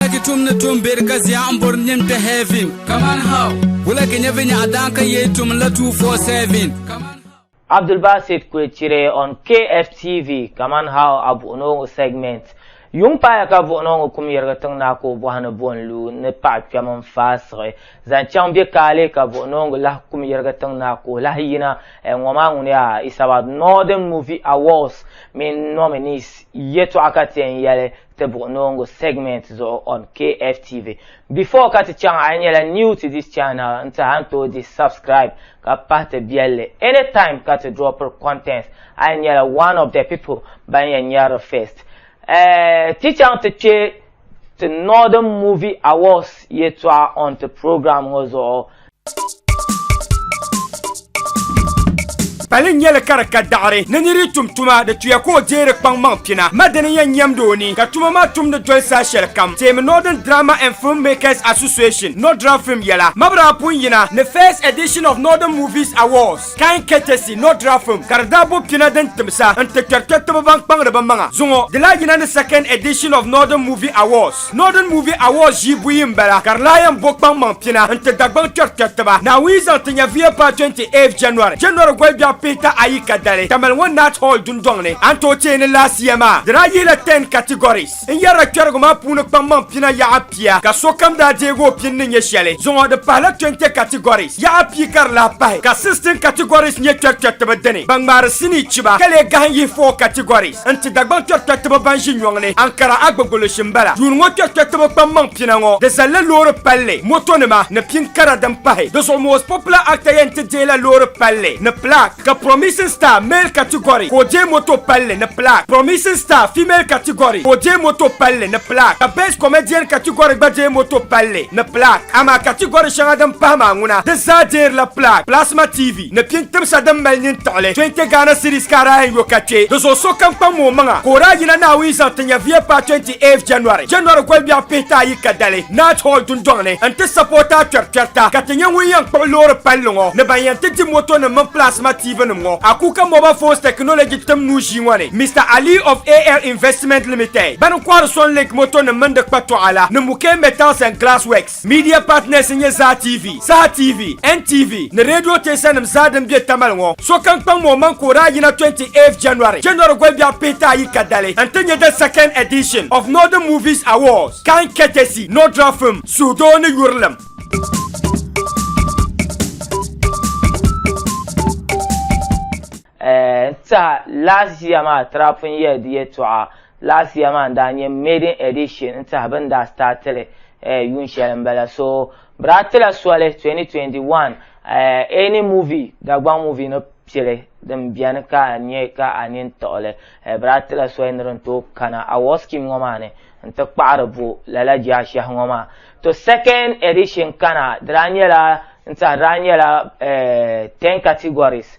Wulagi tum ni tum beri ka zia n bori nim kpɛ heaven. Kaman how? Wulagi nyɛ vi nyaɣa daan ka yee tum la 247. Kaman how? Abdulbasit Kwetire on KFTV, Kaman how a buɣinooŋɔ segment. Yuŋ paaya ka buɣinooŋɔ kum yirigi tiŋ naa ka o bɔhi ni bo n-lu ni paɣa kpɛm n faasiɣi zaŋ chaŋ bɛ kaali ka buɣinooŋɔ lahi kum yirigi tiŋ naa ka o lahi yina ɛɛ ŋɔ maa ŋuniya it's about Northern Movie Awards mini nominees yɛtɔɣa ka ti yɛn yɛli tibigu noongu segment zuɣu on KFTV. Before ka ti chaŋ a yi nyɛla new to this channel n tihi a ni tooi dihi subscribe ka pahi ti biɛlli anytime ka ti dropiri contents a yi nyɛla one of the people ban yɛn nyɛrili first. Eh, ti chaŋ ti kpe ti Northern Movie Awards yɛtɔɣa on ti program ŋɔ zuɣu. Pali n nyɛli ka di ka daɣari ni niri yi tum tuma di tuya ka o deeri kpaŋ maŋ pina ma dini yɛn nyɛmdi o ni ka tuma maa tumdi doli saha shɛli kam teemi Northern Drama and Film Makers Association, Nodra Film yɛla, Mabira pun yina ni First Edition of Northern Movies Awards. Kain ketesi nɔ dira fim ka di daa bo pina din timsa n ti kpɛri kpɛritiba ban kpaŋdi bɛ maŋa zuŋɔ. Di lahi yina ni second edition of Northern Movie Awards. Northern Movie Awards ʒii buyi m-bala ka di lahi yɛn bo kpaŋmaŋ pina n ti Dagbaŋ kpɛri kpɛritiba. Naawuni zaŋ ti Nyɛvuya paai 28th January, January gɔlibiɛɣu pihita ayi kadali Tamale ŋɔ Nat Hall dundɔŋ ni. A ni tooi teei ni laasiya maa, di daa yihila ten categories. N yɛrila kpɛrigu maa puuni kpaŋmaŋ pina yaɣa pia ka sokam daa deegi o pini ni nyɛ shɛli. Zuŋɔ di pahila 20 categories yaɣa pia ka di lahi pahi ka 16 categories nyɛ kpɛrikpɛritiba dini ban ŋmaari sinii chiba ka lee gahin yihi 4 categories n-ti Dagbaŋ kpɛrikpɛritiba ban ʒi nyɔŋ ni Ankara Agbogoloshi m-bala. Yuun ŋɔ kpɛrikpɛritiba kpaŋmaŋ pina ŋɔ di zalila loori palli, motonima ni pin kara din pahi. Di zuɣu most popular actor yɛn ti deei la loori palli ni plaque. Ka Promising Star male category ka o deei moto palli ni plaque. Promising Star female category ka o deei moto palli ni plaque. Ka Best Comedian category gba deei moto palli ni plaque. Amaa category shɛŋa din pahi maa ŋuna di zaa deerila plaque. Plasma TV ni pini timsa din mali nyin tiɣili 20 Ghana cedis ka a daa yɛn yo ka kpe di zuɣu sokam kpaŋmi o maŋa ka o daa yina Naawuni zaŋ ti nyɛviya paai 20 8 January, January gɔlibɛɣu pihita ayi ka dali Night Hall dundɔŋ ni n ti sapoti a kpɛrikpɛrita ka ti nyɛ ŋun yɛn kpuɣi loori palli ŋɔ ni ban yɛn ti di moto nim mini plasma TV nim ŋɔ a Kuka Mobile Phones Technology tim nuu ʒii ŋɔ ni Mister Ali of AL Investment Limited bani n kɔhiri Sun Link moto nim mini di kpatɔɣa la ni Muke Metals and Glass Works. Media partners n nyɛ Zaa TV, Saha TV, NTV ni radio teesanim zaa din be Tamale ŋɔ. Sokam kpaŋ ma o maŋ ka o daa yina 28th January, January gɔlbiɛɣu pihita ayi ka dali n-ti nyɛ the second edition of Northern Movies Awards, Cannes courtesy Nordra Film, suhudoo ni yurilim. N tiɛha last year maa Trapun Year di yɛtɔɣa last year maa n daa nyɛ maiden edition n tiɛha bɛ ni daa start li yuun shɛli n bala so bɛ daa tila soli 2021 any movie Dagbaŋ movie ni pili din beni ka a nyɛ ka a nini tiɣi li bɛ daa tila soli ni din tooi kana award scheme ŋɔ maa ni n ti kpaɣiri bo lala jaashɛhi ŋɔ maa to second edition kana di daa nyɛla n tiɛha di daa nyɛla 10 categories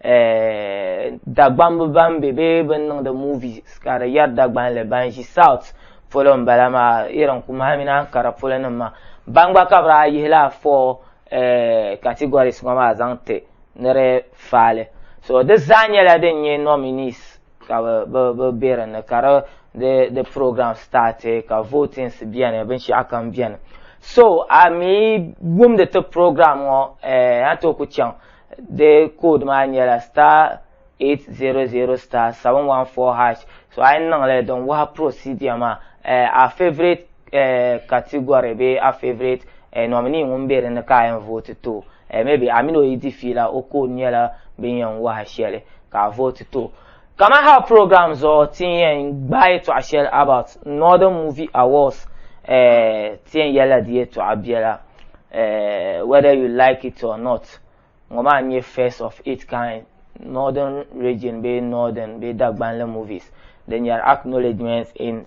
eh, dagbambu ban be bee bin niŋdi movies ka di yɛri dagbanli ban ʒi south polo n bala maa irin kumahi mini ankara polo nim maa ban gba ka bi daa yihi laa four eh, categories ŋɔ maa zaŋ ti ni di faali so di zaa nyɛla din nyɛ nominees ka bi bi be di ni ka di the the program started ka votings biɛni binshaɣu kam biɛni so a mi wumdi ti program ŋɔ eh, a to ku chaŋ di code maa nyɛla star 800 star 714 hash so a yi niŋli din wahi procedure maa eh, a favorite eh, category bee a favorite eh, nominee ŋun be dinni ka a yɛn vote to eh, maybe a mini o yi di fiila o code nyɛla bin yɛn wahi shɛli ka a vote to Kaman hal program zuɣu ti ni yɛn gbaai yɛtɔɣa shɛli about Northern Movie Awards eh, ti yɛn yɛlila di yɛtɔɣa biɛla eh, whether you like it or not. Ŋɔ maa n-nyɛ first of its kind Northern Region bee Northern bee Dagbanli movies din nyari acknowledgement in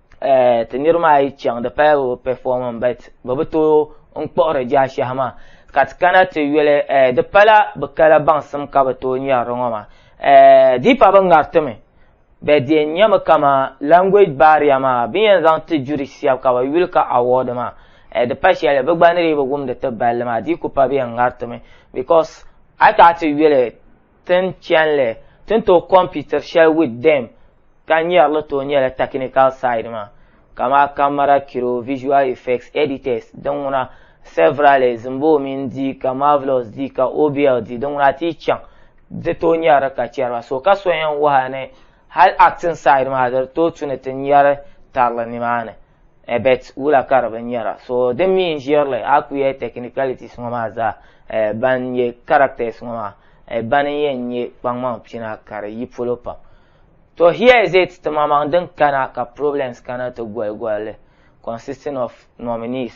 eh, ti niriba maa yi chaŋ di pala bi performing but bi bi tooi n kpuɣiri jaashɛhi maa ka ti kana ti yuli eh, di pala bi kala baŋsim ka bi tooi ŋmɛri di ŋɔ maa eh, di pa bi ŋaritimi bɛ di yɛn nyɛmi kama language barrier maa bi yɛn zaŋ ti juri shɛba ka bi yuli ka award maa eh, di pa shɛli bi gba ni dii bi wumdi ti balli maa di ku pa bi yɛn ŋaritimi because a ti a ti yuli Tin chɛnli, ti ni tooi kɔmpitiri shɛli with them ka nyari li tooi nyɛla technical side maa kamaa camera kiro, visual effects, editors, din ŋuna severally zimbo mini di ka marvelous di ka obl di din ŋuna a ti yi chaŋ di tooi nyari li ka chɛri ba so ka so yɛn wahi a ni hali acting side maa di tooi tu ni ti nyari tari li nimaani. Ebert wula ka di bi nyɛra? So din mi n ʒirili a ku yɛ technicalities ŋɔ maa zaa eh, ban nyɛ characters ŋɔ maa eh, ban n yɛn nyɛ kpaŋmaŋ pina ka di yi polo pam. To here is it ti maŋmaŋ din kana ka problems kana ti goli goli li consisting of nominees.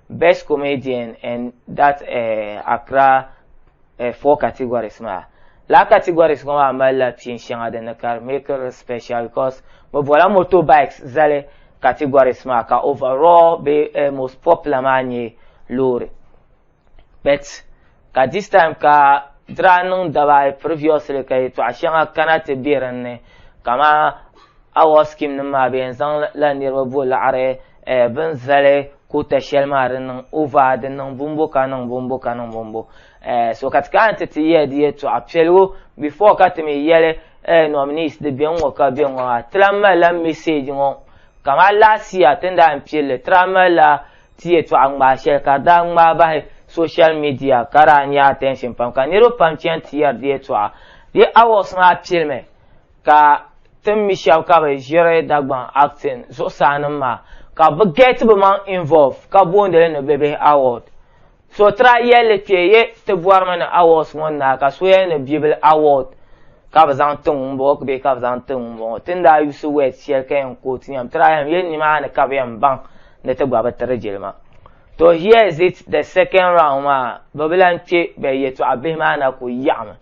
Best Comedian and that uh, Accra uh, four categories maa laa categories ŋɔ maa malila pin shɛŋa din ni ka di make it special because bɛ bɔla motorbikes zali categories maa ka overall be uh, most popular maa nyɛ loori but Ka this time ka diraa niŋ daba ayi previously ka yɛtɔɣa shɛŋa kana ti be din ni kamani award scheme nim maa bɛ yɛn zaŋ la niriba bo laɣiri eh, bini zali kota shɛli maa di niŋ over di niŋ bumbu ka niŋ bumbu ka niŋ bumbu eh, so ka ti kana ti ti yɛli di yɛtɔɣa piɛligu before ka ti mi yɛli eh, nominees di bɛ ŋɔ ka bɛ ŋɔ maa ti lahi mali la message ŋɔ kamani last year ti ni daa yɛn pilli ti daa mali la Ti yɛtɔɣa ŋmaai shɛli ka di daa ŋmaai bahi social media ka daa nya attention pam ka niriba pam chani ti yɛri di yɛtɔɣa. Di awards maa pilimi ka tin mi shɛba ka bɛ ʒiri Dagbaŋ acting zuɣusaa nim maa ka bɛ get bɛ maŋ involve ka booni li ni Bebehi Award. Sotra yɛlli kpɛ ye ti bɔrimi ni awards ŋɔ n-naai ka so yɛli ni Bibila award ka bɛ zaŋ ti ŋun bɔŋɔ bee ka bɛ zaŋ ti ŋun bɔŋɔ. Ti ni daa yuusi words shɛli ka yɛn quote yɛm tira yɛm yɛli nimaani ka bɛ yɛn baŋ ni ti gba bi tiri jilima. To here is it the second round maa bɛ bi lan kpɛ bɛ yɛtɔɣ bihi maa na ku yaɣimi.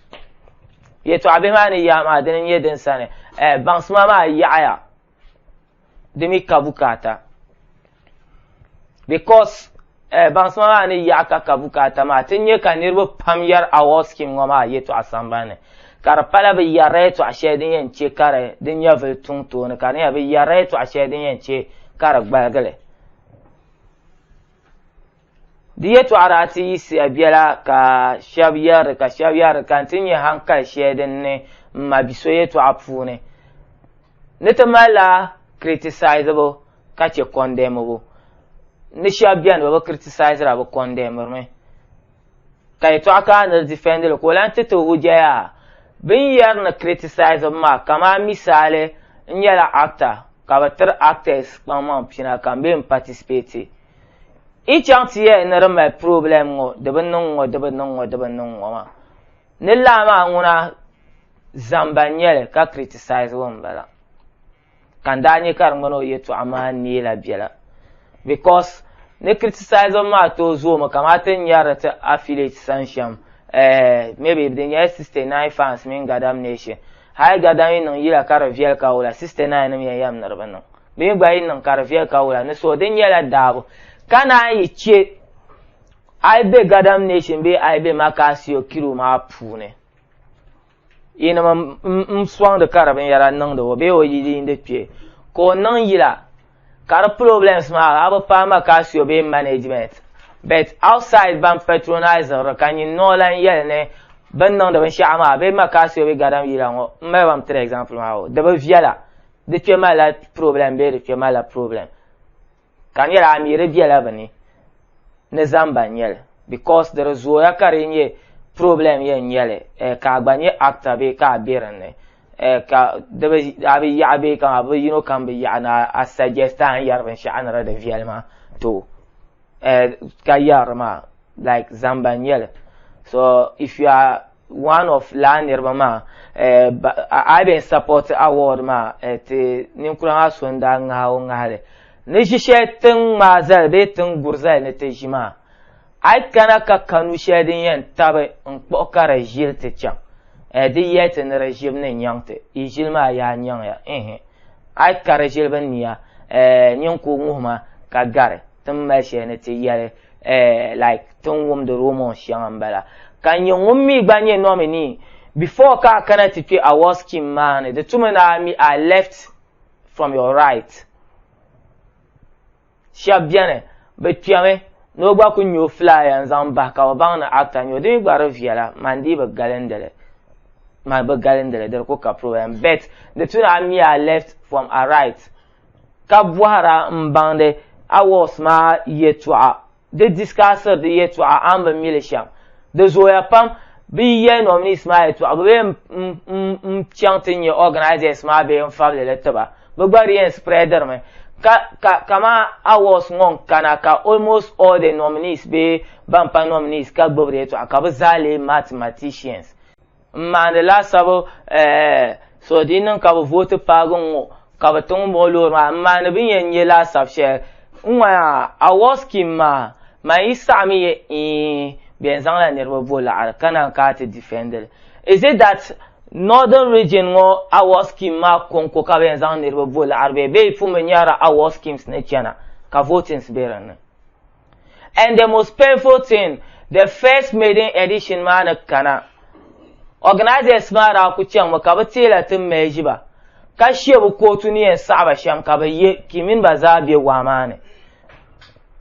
Yɛtɔɣ bihi maa ni yaɣi maa dini n-nyɛ din sani eh, baŋsima maa yaɣiya. di mi ka bukaata because eh, baŋsima maa ni yaɣa ka ka bukaata maa ti nyɛ ka niriba pam yɛri award scheme ŋɔ maa yɛtɔɣa sambani ka di pala bi yɛrila yɛtɔɣa shɛli din yɛn chɛ ka di din nyɛvili tuŋ tooni ka di nyɛla bi yɛrila yɛtɔɣa shɛli din yɛn chɛ ka di gbaligili Di yɛtɔɣa daa ti yiɣisiya biɛla ka shɛb yɛri ka shɛb yɛri ka n-ti nya hankali shɛli din ni m ma bi so yɛtɔɣa puuni ni ti malila kiritisayizibu ka chɛ kɔndɛmibu ni shɛb beni bɛ bi kiritisayizira bɛ kɔndɛmiri mi. Ka yɛtɔɣa ka a ni di difɛndi li ka o lan ti ti hujja yaa bɛ ni yɛri ni kiritisayizibu maa kaman misaali n nyɛla actor ka bɛ tiri actors kpaŋmaŋ pina ka m bee m-patisipeti. I chaŋ ti yɛli ni di mali problem ŋɔ di bi niŋ ŋɔ di bi niŋ ŋɔ di bi niŋ ŋɔ maa ni laa maa ŋuna zamba n nyɛli ka criticize o n bala ka n daa nyɛ ka di ŋmani o yɛtɔɣa maa neela biɛla because ni criticize o maa tooi zoomi kamati n nyɛri ti affiliate san shɛm eh, maybe di nyɛla 69 fans mini gadam nation hali gadam yi niŋ yila ka di viɛli ka wula 69 nim yɛn yɛm ni di bi niŋ bee gba yi niŋ ka di viɛli ka wula ni so di nyɛla daabu ka naan yi chɛ a yi be gadam nation bee a yi be makaasio kiro maa puuni yinim n sɔŋdi ka di binyɛra niŋdi o bee o yi yiindi kpɛ ka o niŋ yila ka di problems maa a bi paai makaasio bee management but outside ban patronize ri ka nyin noo lan yɛli ni bin niŋdi binshɛɣu maa bee makaasio bee gadam yila ŋɔ m mali ba m tiri example maa o di bi viɛla di kpe ma la problem bee di kpe ma la problem ka n yɛli a mi di bela bi ni ni zamba n nyɛli because di di zooya ka di nyɛ problem yɛn nyɛli eh, ka a gba nyɛ actor bee ka a be dinni eh, ka di bi a bi yaɣi bee ka a bi yino kam bi yaɣi ni a suggest a ni yɛri binshaɣu ni di di viɛli maa to eh, ka yɛri maa like zamba n nyɛli so if you are one of laa niriba maa eh, a been support award maa eh, ti ninkura maa so n daa ŋahi o ŋahili ni ʒi shɛli tin ŋmaa zali bee tin guri zali ni ti ʒi maa a yi kana ka kanu shɛli din yɛn tabi n kpuɣi ka di ʒili ti chaŋ eh, di yɛli ti ni di ʒibu ni nyaŋ ti i ʒili maa yaa nyaŋ ya a yi ka di ʒili bi niya eh, nyin ku ŋuhi ma ka gari tin mali shɛli ni ti yɛli eh, like tin wumdi rumors shɛŋa n bala ka n nyɛ ŋun mi gba nyɛ nominee before ka a kana ti kpɛ award scheme maa ni di tumi ni a mi I left from your right shɛb bɛni bi kpɛmi ni o gba ku nyɛ o flyer n zaŋ bahi ka o baŋ ni actor nyɛ o di mi gba di viɛla man dii bi galindili man bi galindili di ku ka problem bet di tuni a mi I left from a right ka bɔhira m-baŋdi Awards maa yɛtɔɣa. Di discussiri di yɛtɔɣa a ni bi mi li shɛm. Di zooya pam. Bɛ yi yɛli nominees maa yɛtɔɣa bɛ bee n-chaŋ ti nya organisers maa bee n-fabili li ti ba. Bɛ gba di yɛn spreadiri mi. Ka, ka, kaman Awards ŋɔ n-kana ka almost all the nominees bee ban pa nominees ka gbibi di yɛtɔɣa ka bɛ zaa leei mathematicians. N maandi laasabu so di niŋ ka bɛ vooti paagi n ŋɔ ka bɛ ti ŋun bɔŋɔ loori maa. M maandi bɛ ni yɛn nya laasabu shɛli n ŋɔ yaa award scheme maa man yi saɣimi yɛ eeh bɛ yɛn zaŋla niriba bo laɣiri ka naan kana ti defend li. Is it that Northern Region ŋɔ award scheme maa kɔŋko ka bɛ yɛn zaŋ niriba bo laɣiri bee bɛ yi pun bi nyarila award schemes ni chana ka votings be din ni? and the most painful thing the first maiden edition maa ni kana organisers maa daa ku chaŋmi ka bi teela ti merge ba ka she bi kootu ni yɛn saɣi ba shɛm ka bi ye ki mini ba zaa be waa maa ni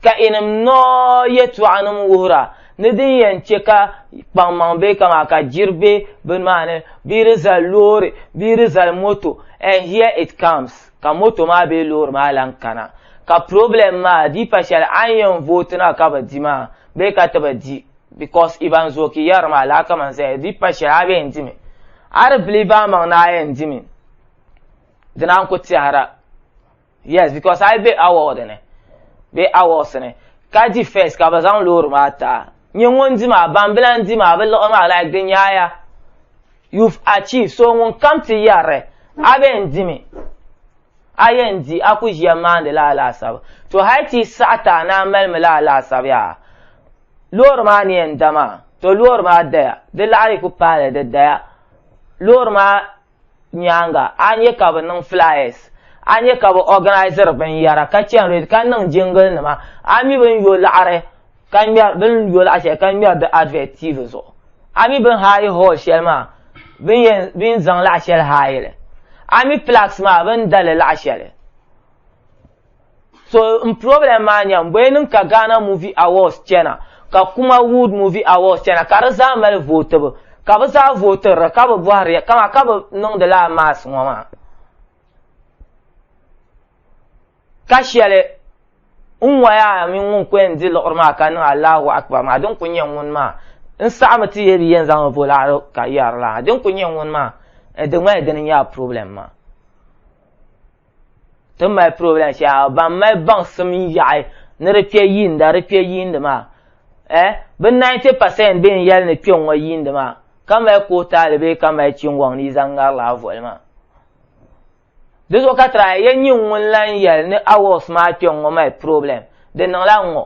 ka inim noo yɛtɔɣanim wuhira ni din yɛn che ka kpaŋmaŋ be kamaa ka jiri be bini maa ni bee di zali loori bee di zali moto and here it comes. ka moto maa bee loori maa lan kana ka problem maa di pa shɛli a ni yɛn vooti na ka bi di maa bee ka ti bi di because Ivan Zooki yɛri maa laa kaman zaya di pa shɛli a bee yɛn dimi a di believe a maŋ ni a yɛn dimi dina n-ku tɛhira yes because a yi be award ni bee awards ni ka di first ka bi zaŋ loori maa ti a nyɛ ŋun di maa ban bi lan di maa bi liɣi maa like di nyaaya You've achieved, so ŋun kam ti yɛri, a bee n dimi, a yɛn di, a ku ʒiya maandi la alaasabu. To hali ti yi saɣi taha ni a malimi la alaasabu yaa, loori maa ni yɛn da maa, to loori maa daya, di laɣiri ku paali di daya. Loori maa nyaaŋa, a nya ka bɛ niŋ flyers, a nya ka bɛ organiziri binyɛra ka chani rally ka niŋ jingle nima, a mi bɛ ni yo laɣiri ka ŋmɛri bɛ ni yo laɣa shɛli ka ŋmɛri di advert TV zuɣu a mi bɛ ni haayi hall shɛli maa bɛ ni yɛn bɛ ni zaŋ laɣa shɛli haayi li a mi plaques maa bɛ ni da li laɣa shɛli so n problem maa nyɛ n bɔyɛ niŋ ka Ghana Movie Awards chɛna ka Kuma Wood Movie Awards chɛna ka di zaa mali vootibu ka bɛ zaa vootiri di ka bi bɔhiri ya kama ka bi niŋdi laa mass ŋɔ maa. Ka shɛli n waya mini ŋun kuli yɛn di liɣiri maa ka niŋ Allahu Akbar maa, din kuli nyɛ ŋuni maa n saɣimi ti yi bi yɛn zaŋ volaɣiri ka yɛri la ha, din kuli nyɛ ŋuni maa di ŋmanila dini n nyɛ a problem maa. Ti mali problem shɛli ban mali baŋsim n yaɣi ni di kpe yiinda di kpe yiindi maa eh bi 90 percent bɛ ni yɛli ni kpe ŋɔ yiindi maa ka mali kootaali bee ka mali chingoŋ ni yi zaŋ ŋari la a voli maa. Di zuɣu ka try ya nyin ŋun lan yɛli ni Awards maa kpe ŋ-ŋɔ mali problem, di niŋla ŋ-ŋɔ,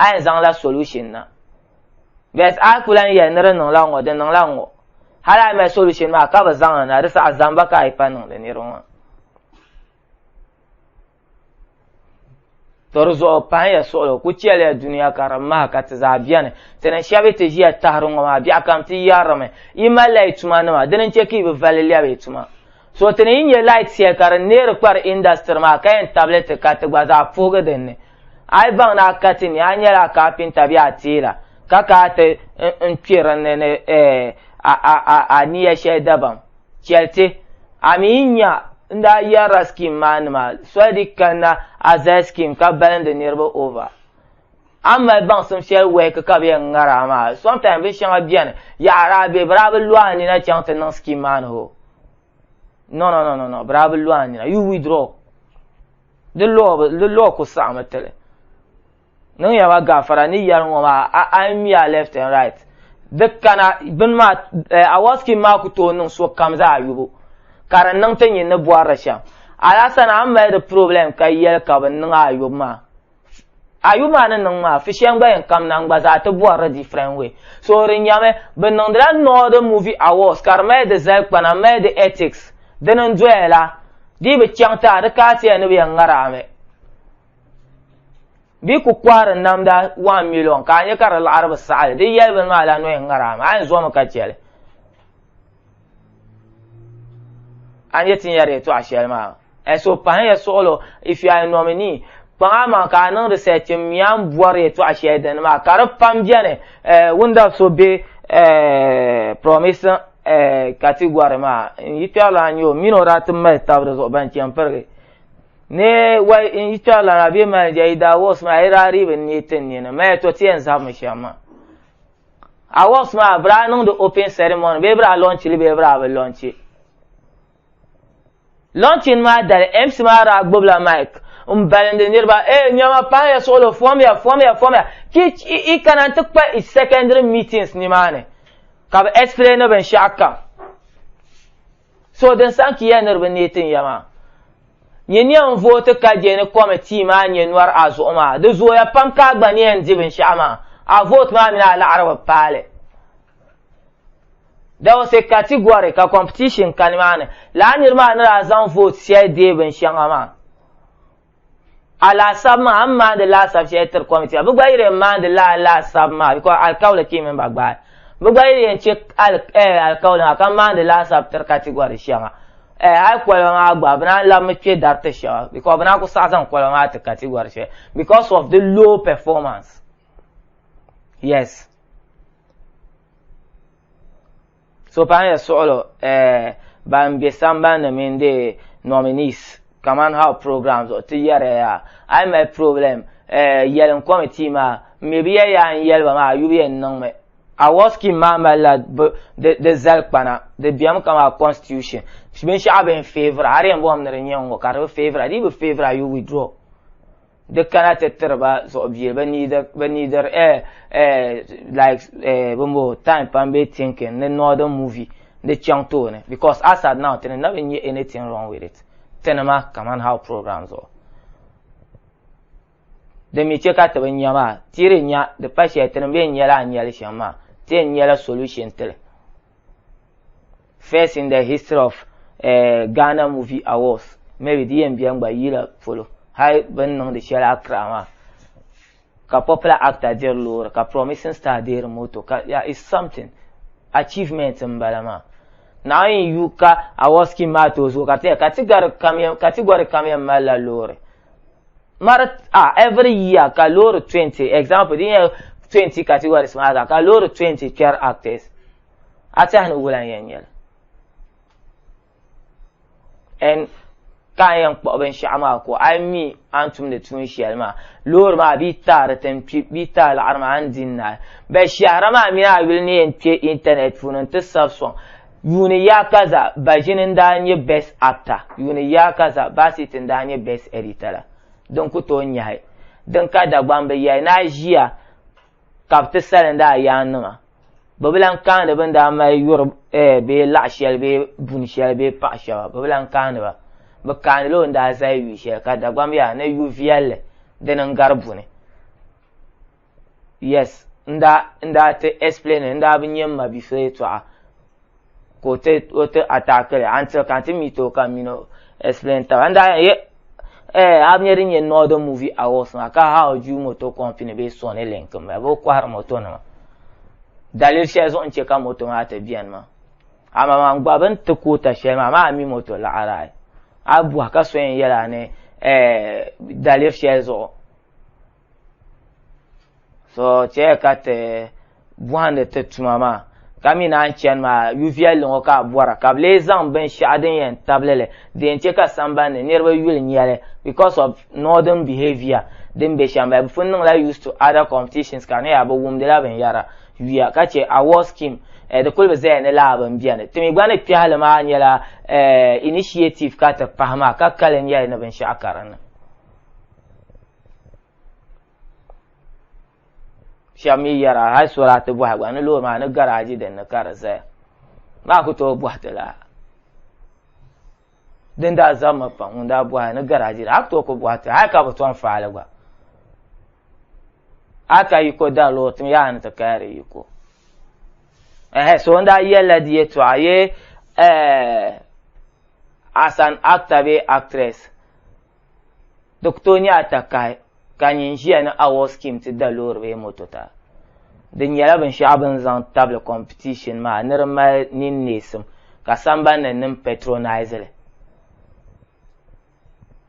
a yɛn zaŋla solution na. But a ku lan yɛli ni di niŋla ŋ-ŋɔ, di niŋla ŋ-ŋɔ. Hal a yi mali solution maa ka bi zaŋ li na, di saha zamba ka a yi pa niŋdi niriba maa. tɔri zuɣu pahiya suɣulo ku chɛliya duniya ka di maha ka ti zaa bɛni ti ni shɛbi ti ʒiya tahiri ŋɔ maa biɛɣu kam ti yarimi yi mali la yi tuma nima dini n chɛ ka yi bi vali lɛbi yi tuma so ti ni yi nyɛ light shɛli ka di neeri kpari industry maa ka yɛn tabili ti ka ti gba zaa puhigi din ni a yi baŋ ni a ka ti ni a nyɛla kaapinta bɛ a teela ka ka ti n kpɛ din ni ni a niya shɛli dabam Chɛliti, a mi yi nya n daa yɛrila scheme maa nima soli di kanna a zali scheme ka balindi niriba over. A ni mali baŋsim shɛli work ka bɛ yɛn ŋari a maa. Sometimes bin shɛŋa beni, yaɣiri a bɛ, bɛ daa bi lo a nina chaŋ ti niŋ scheme maa ni ho. No, no, no, no, no, bɛ daa bi lo a nina. You withdraw. Di law, di law ku saɣimi ti li. Niŋ ya ma gafara ni yɛri ŋɔ maa a a ŋmi ya left and right. Di kana bini maa eh, Awaskin maa ku tooi niŋ so kam zaa yubu ka di niŋ ti nyin ni bɔri di shɛm. Alasana a ni mali di problem ka yɛli ka bini niŋ a yubu maa. A yubu maa ni niŋ maa fishɛm gba yɛn kam na n-gba zaa ti bɔri di different way. So di nyami bɛ niŋdila Northern Movie Awards ka di mali di zalikpana m-mali di ethics. Dini n-doya la. Dii bi chaŋ ti a di kaati ya ni bɛ yɛn ŋari a mi. bɛ ku kɔhiri namda wan miliyon ka a nya ka di laɣiri bi saɣili di yɛli bini maa la noya ŋaraa mi a yɛn zomi ka chɛli a ni yɛ ti nyari yɛtɔɣa shɛli maa ɛso pahin ya suɣulo if you are a nominee kpaŋa maa ka a niŋdi sɛchi m mi a ni bɔri yɛtɔɣa shɛli dini maa ka di pam bɛni eh, wunda so bɛ eh, promise eh, category maa n yi kpɛrila n yɛ o mini o daa ti mali tabi di zuɣu ban chɛ pirigi Ne wai in yi tɔri lana bɛ mali ja yi daa wɔks maa yi daa rii bi ne tin ne ni maya to ti yɛn zabimi shɛm maa a wɔks maa bi daa niŋdi open ceremony bee bi daa lɔnchi li bee bi daa bi lɔnchi lɔnchin maa dali mc maa daa gbubila mic n balindi niriba ee eh, nyɛma pahaya suɣulo fɔmiya fɔmiya fɔmiya ki i kana ti kpa i secondary meetings nimaani ka bi explain binshɛɣu kam So din saɣim ti ya ni di bi neei tin ya maa, nyɛ ni yɛn vooti ka je ni kɔmitii maa nyɛ nɔr a zuɣu maa. Di zooya pam ka a gba ni yɛn di binshɛɣu maa, a vooti maa mini a laɣiri bi paali. There was a category ka competition ka nimaani. Lala niri maa ni daa zaŋ vooti shɛli deei binshɛŋa maa. Alaasab maa a ni maandi laasab shɛli tiri kɔmitii maa bɛ gba yi di yɛn maandi la alaasab maa bikɔs alikauli kii mini ba gbaai bɛ gba yi di yɛn chɛ alikauli maa ka maandi laasab tiri katigɔri shɛŋa hali koliba maa gba bɛ naan labimi kpɛ dari ti shɛba bikɔs bɛ naan ku saɣi zaŋ koliba maa ti katigɔri shɛli bikɔs of di low pɛfɔmansi yes So paɣi ya suɣulo eh, ban be samban ni mini de nominees kaman how program zuɣu ti yɛriya ya a yi mali problem eh, yɛlim committee maa m-mi bi yɛli ya a ni yɛli ba maa a yubu yɛn niŋ mi. Award scheme maa mali la di zali kpana, di bemi ka maa constitution, binshɛɣu bɛ ni favour a di yɛn bɔŋɔ mi ni di nyɛ n-ŋɔ ka di bi favour a, di yi bi favour a you withdraw. di kana ti tiri ba zuɣu bie bi niidir bi niidir eh eh like eh bin bo time pam be thinking ni northern movie di chaŋ tooni because as at now tini na bi nyɛ anything wrong with it tini ma kaman how program zuɣu di mi che ka ti bi nya maa tiri nya di pa shɛli tini bee nyɛla a nyɛli shɛm maa ti yɛn nyɛla solution tili First in the history of uh, Ghana Movie Awards. Maybe di yɛn bɛn gba yila polo. Hali bin niŋdi shɛli Accra maa. Ka popular actor diri loori ka promising star diri moto ka yeah, it's something. Achievement n bala maa. Now in yu ka awards ki maa to zuɣu ka ti ka ti gari kamyam ka ti gari kamyam malila loori. Mari ah every year ka loori 20 example di yɛn 20 categories maa ka loori 20 kpɛri actors. a tɛhi ni wulan yɛn nyɛli ɛn ka a yɛn kpuɣi binshɛɣu maa ko a mi a ni tumdi tuun shɛli maa loori maa bɛ taari tin kpi bɛ taari laɣari maa n din naai bɛ shɛhira maa mi a yuli ni yɛn kpɛ intanɛt puuni n ti sabi sɔŋ yuuni yaa ka za baʒini n daa nyɛ best actor yuuni yaa ka za baasiti n daa nyɛ best editor la din ku tooi nyahi din ka dagbambi yahi ni a ʒiya ka bɛ ti salinda a yaanniŋa. Bɛ bi lan kaani bɛ ni daa mali yuri eh, bee laɣ shɛli bee buni shɛli bee paɣ shɛba, bɛ bi lan kaani ba. Bɛ kaanila o ni daa zali yu shɛli ka Dagbam yaa ni yu viɛlli dini n-gari buni. Yes, n daa, n daa ti explain li, n daa bi nya m ma bia so yɛtɔɣa. ka o ti o ti atakili an ti ka ti mi to ka mi no explain taba an daa ye eh a nyɛ din nyɛ northern movie awards maa ka how ju moto company bee sony link maa bɛ kɔhiri moto nima dalili shɛli zuɣu n chɛ ka moto maa ti bɛni maa ama maa gba bini ti koota shɛli maa maa mi moto laɣara ayi a bɔhi ka so yɛn yɛla ni eh, daliri shɛli zuɣu so chɛ ka ti bɔhindi ti tuma maa ka mi naan chani maa yuviɛlli ŋɔ ka a bɔra ka bi lee zaŋ binshɛɣu din yɛn tabili li din chɛ ka sambani niriba yuli nyɛli because of northern behavior din be shɛm bi pun niŋla used to other competitions ka niya bi wumdila binyɛra yuya ka chɛ award scheme eh, di kuli bi zaya ni laa bin biɛni timi gba ni kpɛhili maa nyɛla eh, initiative ka ti pahi maa ka kali nyɛli ni binshɛɣu ka dinni shɛba mi yɛra hali solaati bɔhi gba ni loori maa ni garaaji din ni ka di zaya maa ku tooi bɔhi ti la din daa zammi pam ŋun daa bɔhi ni garaaji a ku tooi ku bɔhi ti hali ka bi tɔn faali gba a ka yiko dari loori tim yaa ni ti kaya di yiko ɛhɛ so n daa yɛlila di yɛtɔɣa ye eh, as an actor be actress Di ku tooi nyɛla takahi ka n nyin ʒiya ni award scheme ti da loori bee moto ta. Di nyɛla binshɛɣu bɛ ni zaŋ tabili competition maa ni di mali ninneesim ka sambani ni nim patronize li.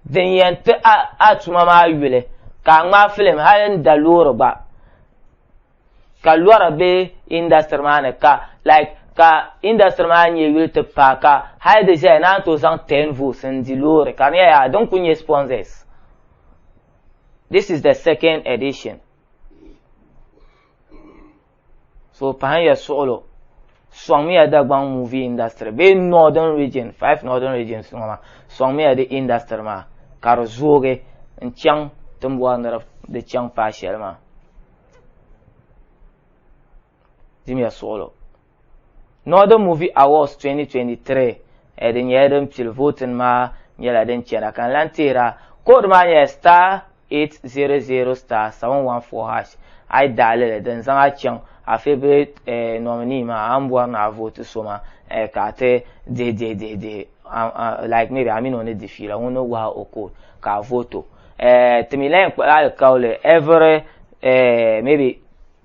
Din yɛn ti a a tuma maa yuli ka a ŋmaai filim hali n da loori gba. ka lɔra be industry maa ni ka like ka industry maa nyɛ yuli ti paai ka hali di ʒɛya naan to zaŋ 10 votes n di loori ka di nyɛla din ku nyɛ sponsors this is the second edition so pahin ya suɣulo sɔŋmiya dagbaŋ movie industry bee northern region five northern regions ŋɔ maa sɔŋmiya di industry maa ka di zoogi n chaŋ timbɔri ni di chaŋ paai shɛli maa Dimiya suɣulo. Northern Movie Awards 2023 eh, din nyɛla din pili voting maa nyɛla din chɛna ka n lan tihira code maa nyɛla star 800 star 714 hash a yi daɣi lili din zaŋ a chaŋ a favourite eh, nominee maa a ni bɔri ni a vote so maa eh, ka a ti dihi dihi dihi dihi like maybe a mini o ni di fiila ŋun ni wahi o code ka a vote o eh, ti mi layan kpuɣi alikauli every eh, maybe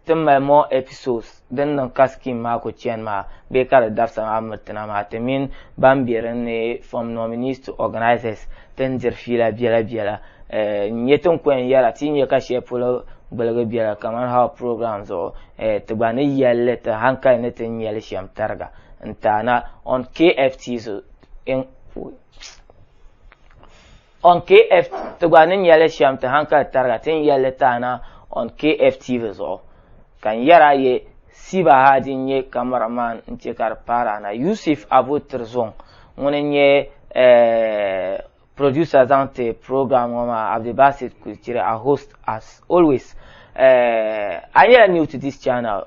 ti mali more episodes din niŋ ka scheme maa ku chani maa bee ka di dabisa maa miritina maa ti mini ban be din ni from nominees to organisers ti ni diri fiila biɛla biɛla eh, n nyɛ tin kɔyɛn yɛla ti nyɛ ka shɛli polo gbiligi biɛla kamani how program zuɣu eh, ti gba ni yɛlli ti hankali ni ti nyɛli shɛm tariga n taana on kft so On KF ti gba ni nyɛli shɛm ti hankali tariga ti ni yɛlli taana on KF TV zuɣu. Ka n yɛri a ye Siba Hadi n-nyɛ camera man n-che ka di paari a na. Yusuf Abu Tirzong ŋuni n-nyɛ eh, producer zaŋ ti program ŋɔ maa Abdulbasit Kulchiri a host as always. Eh, a nyɛla new to this channel.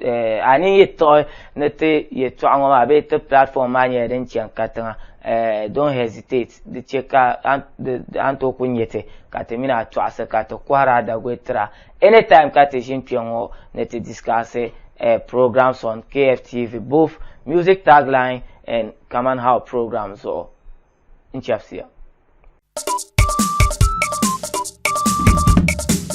Eh, a ni yi tiɣi ni ti yɛtɔɣa ŋɔ maa bee ti platform maa nyɛla din chɛ n-ka tiŋa eh, don't hesitate di chɛ ka a ni tooi ku nyɛ ti ka ti mini a tɔɣisi ka ti kɔhiri a Dagoi tira anytime ka ti ʒini kpɛŋɔ ni ti discussi eh, programs on KFTV, both music tagline and Kaman How program zuɣu. n-chɛbisiya.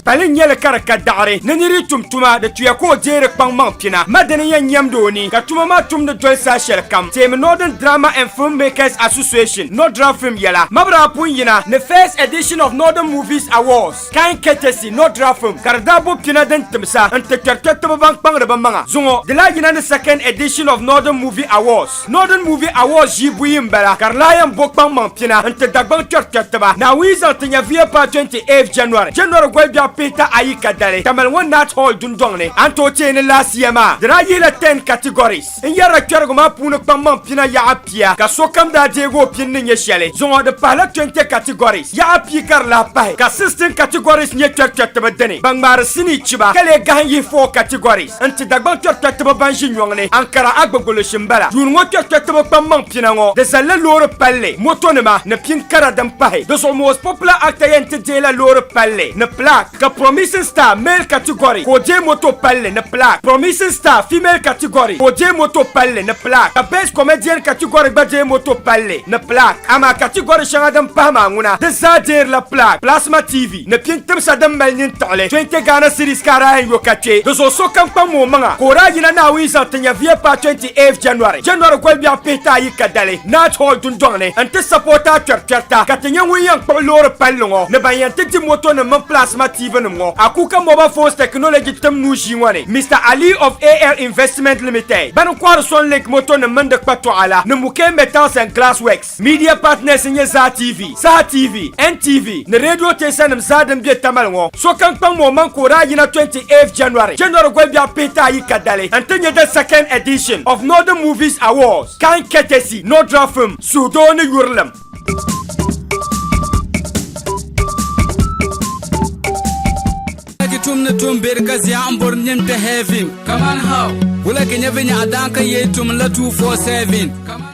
Pali n nyɛli ka di ka daɣiri ni niri tum tuma di tuya ka o deeri kpaŋ maŋ pina ma dini yɛn nyɛmdi o ni ka tuma maa tum ni doli saha shɛli kam teemi Northern Drama and Film Makers Association, Nodra Film yɛla, Mabira Apunyina ni First Edition of Northern Movies Awards. Kain ketesi nɔ dira fim ka di daa bo pina din tim sa n ti kpɛri kpɛritiba ban kpaŋdi bɛ maŋa zuŋɔ. Di lahi yina ni second edition of Northern Movie Awards. Northern Movie Awards ʒii buyi m-bala ka di lahi yɛn bo kpaŋmaŋ pina n ti Dagbaŋ kpɛri kpɛritiba. Naawuni zaŋ ti nya VA paai 28th January, January gɔlibiɛɣu pihita ayi kadali Tamale ŋɔ Nat Hall dundɔŋ ni. A ni tooi teei ni laasiya maa, di daa yihila ten categories. N yɛrila kpɛrigu maa puuni kpaŋmaŋ pina yaɣa pia ka sokam daa deegi o pini ni nyɛ shɛli. Zuŋɔ di pahila 20 categories yaɣa pia ka di lahi pahi ka 16 categories nyɛ kpɛrikpɛritiba dini ban ŋmaari sinii chiba ka lee gahim yihi 4 categories n-ti Dagbaŋ kpɛrikpɛritiba ban ʒi nyɔŋ ni Ankara Agbogoloshi m-bala. Yuun ŋɔ kpɛrikpɛritiba kpaŋmaŋ pina ŋɔ di zalila loori palli, motonima ni pin kara din pahi. Di zuɣu most popular actor yɛn ti deei la loori palli ni plaque. Ka Promising Star male category ka o deei moto palli ni plaque. Promising Star female category ka o deei moto palli ni plaque. Ka Best Comedian category gba deei moto palli ni plaque. Amaa category shɛŋa din pahi maa ŋuna di zaa deerila plaque. Plasma TV ni pini timsa din mali nyin tiɣili 20 Ghana cedis ka a daa yɛn yo ka kpe di zuɣu sokam kpaŋmi o maŋa ka o daa yina Naawuni zaŋ ti nyɛviya paai 20 8 January, January gɔlibɛɣu pihita ayi ka dali Nat Hall dundɔŋ ni n ti sapota a kpɛrikpɛrita ka ti nyɛ ŋun yɛn kpuɣi loori palli ŋɔ ni ban yɛn ti di moto nim mini plasma TV nim ŋɔ Akuka Mobile Phones Technology tim nuu ʒii ŋɔ ni Mister Ali of AL Investment Limited bani n kɔhiri Sun Link moto nim mini di kpatɔɣa la ni Muke Metals and Glass Works. Media partners n nyɛ Zaa TV, Saha TV, NTV ni radio teesa nim zaa din be Tamale ŋɔ. Sokam kpaŋ mi o maŋ ka o daa yina 28th January, January gɔlbiɛɣu pihita ayi ka dali n ti nyɛ the second edition of Northern Movies Awards, kind courtesy Nordra Film, suhudoo ni yurilim. Wulagi tum ni tum beri ka zia n bori nim kpe heaven. Kaman how? Wulagi nyɛ vinyɛɣu daan ka yee tum la 247. Kaman